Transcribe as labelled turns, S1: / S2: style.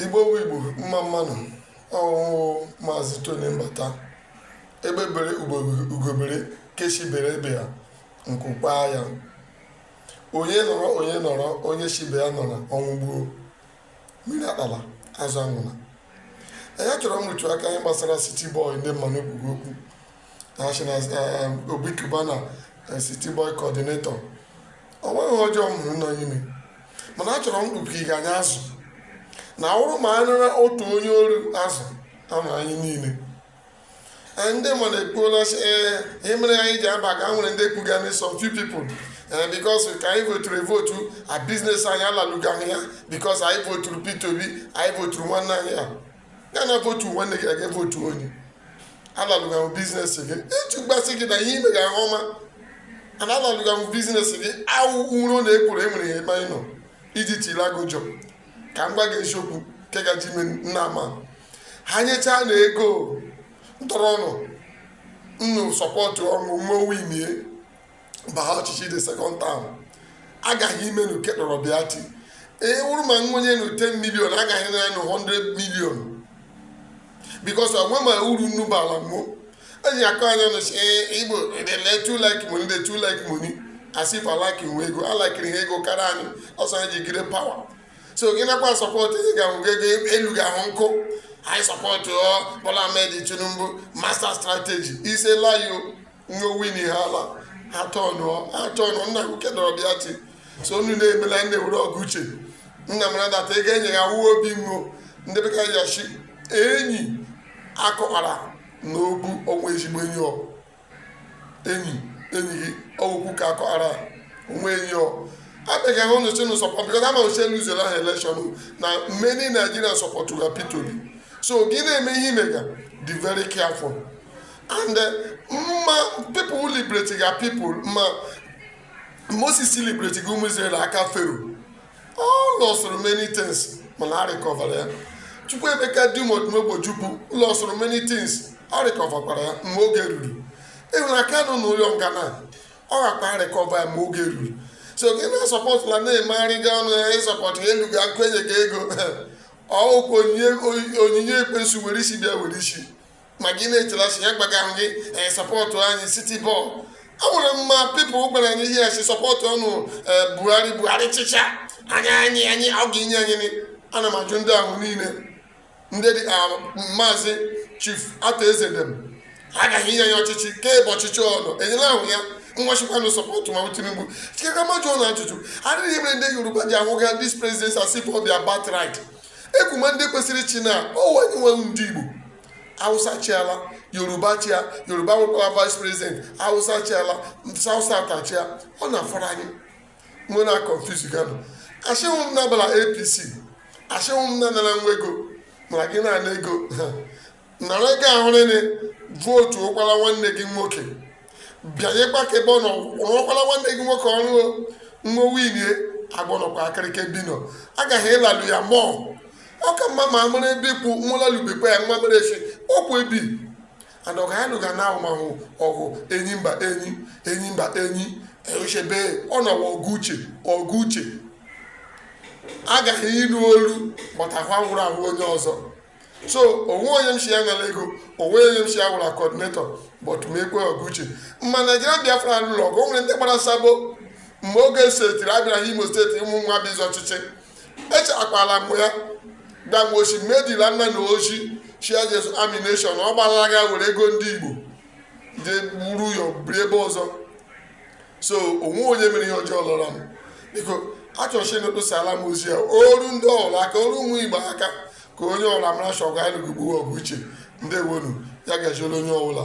S1: igbo wụ igbo mma mma nụ o ọ wụ maazị tony mbata egbe bere ugo bere ke shi bere ibe ya nku kwaa ya onye nọrọ onye nọrọ onye shi ibe ya nọrọ ọnwụ gbuo mmiri akpala azụ anwụla achọrọ m ịrụtụ aka n'ihe gbasara city boy ndị mmadụ ekwuga okwu sị na um, obi cubana eh, city boy coordinator ọ nweghị ọjọọ m hụrụ nọ n'ime mana achọrọ m kpuke ịga anya azụ na ọ wụrụ ma anara otu onye oru azụ ama anyị niile Eh, ndị mmadụ ekwuola sị ee ihe mere anyị ji aba ka nwere ndị kwuga na some few people eh, because ka anyị voturu evotu a biznes anyị alalugaghị ya because anyị voturu Peter Obi anyị voturu nwanne anyị a ya na votu nwanne gị aga votu onye alalụghahụ biznes gị etu m gwasị gị na ihe ị mega ahụ ọma ana alalụghahụ biznes gị awụ ụro na ekwuru enwere ya ebe anyị nọ iji tiri agụ jọ ka m gwa gị eziokwu nke gaji ime nna ama ha nyechaa na ego ntọrọ ọnụ nnụ sọpọtụ ọ wụ ma o winie baha ọchịchị the second term agaghị ime na uke nọrọ bịa ti ee wụrụ ma nwenye na 10 milion agaghị na nụ 100 milion because onwe ma uru nnu baala mmụọ eji akọ anya nụchi ee igbo they too like money they too like money as if ha like inwe ego alikere ha ego karịa anyị ọsọ anyị jigide power so gị nakwa sọpọtụ ị ga-ahụ ego elu ga-ahụ nkụ anyị sọpọtụ ọ Bola Ahmed Tinubu master strategy ise layo nwowini ha ala atọnụ atọnụ nna nwoke dọrọ bịa chi so unu na-emela ndị nwere ọgụ uche nna m nadata ị ga-enye ya wuo obi nwo ndị bekee ya shi enyi akọwara na ogbu onwe ezigbo enyi ọ enyi enyi gị ọgwụkwu ka akọghara onwe enyi ọ abịaghị ahụ nụchi nụ sọpọt because ama uche luzere ahụ elekshọn na many Nigerians sọpọtụga Peter Obi so gị na-eme ihe ị mega be very careful and eh, ma people liberate ga people ma moses liberate ga ụmụ israel aka fero ọ lọsụrụ many things mana ọ rịkọvara ya chukwuemeka dim odumegwu ojukwu lọsụrụ many things ọ rịkọvakwara ya mgbe oge ruru ị hụrụ kanu n'ụlọ nga na ọ gakwa rịkọva ya mgbe oge ruru so gị na-asọpọtụla na-emegharịga ọnụ ya ịsọpọtụ elu gị akụ enye gị ego ọ wụkwa onyinye ekwensu were isi bịa were isi ma gị na-echelachi ya gbaga ahụ gị ee sọpọtụ anyị city boy a nwere my people gwara anyị ihe a sị sọpọtụọnụ ee buhari buhari chịcha anya anyị anyị ọ ga-enye anyị nị. ana m ajụ ndị ahụ niile ndị dị ka maazị chief arthur eze dem agaghị inye anyị ọchịchị kemgbe ọchịchị ọnụ enyela ahụ ya nwachikwanụ sọpọtụ ma tinubu chikere m ajụ ụnụ ajụjụ ọ gịnị mere ndị yoruba ji ahụga this president as if ọ bụ ha birthright e kwuma ndị kwesịrị ịchị now ọ wụ anyị wụ ndị igbo hausa achịala yoruba achịa yoruba nwekwara vice president hausa achịala south south achịa ọ na-afọrọ anyị mụ na confuse ganụ asịhụ m ụnụ abala apc asịhụ m ụnụ anara nwa ego mana gị na-ana ego nara ego ahụ rienụ vootukwara nwanne gị nwoke bịanyekwa aka ebe ọ nọ rụọkwara nwanne gị nwoke ọrụ nwa winie agbọnọkwa akịrịka bino agaghị ịlalụ ya mọọ ọ ka mma ma amara ebe ikwu nwalalubekwa ya nwa mere e si okwu ebi and ọgụ anyị lụga now awụmahụ ọgụ enyimba enyi enyimba enyi echebe ọ na-awụ ọgụ uche ọgụ uche agaghị ịnụ olu maka ahụ anwụrụ ahụ onye ọzọ so o nwee onye m sị ya nara ego o nwee onye m sị ya wụrụ coordinator but m ekwe ọgụ uche mgbe naijiria biafra lụrụ ọgụ o nwere ndị gbara sabo mgbe oge setiri abịara ha imo steeti ụmụ nwa bụ izu ọchịchị echekwala m ya gbanwochi medila nna na ochi sị ya jee examination ọ gbalaga were ego ndị igbo jee wuru ụyọ biri ebe ọzọ so o nwee onye mere ihe ọjọọ lụrụ m biko achọrọ sị ụnụ kposaala m ozi a o ruo ndị ọwụla aka o ruo ụmụ igbo aka ka onye ọwụla mara sị ọgụ anyị lụga ugbu a wụ ọgụ uche ndewonụ ya gaziela onye ọbụla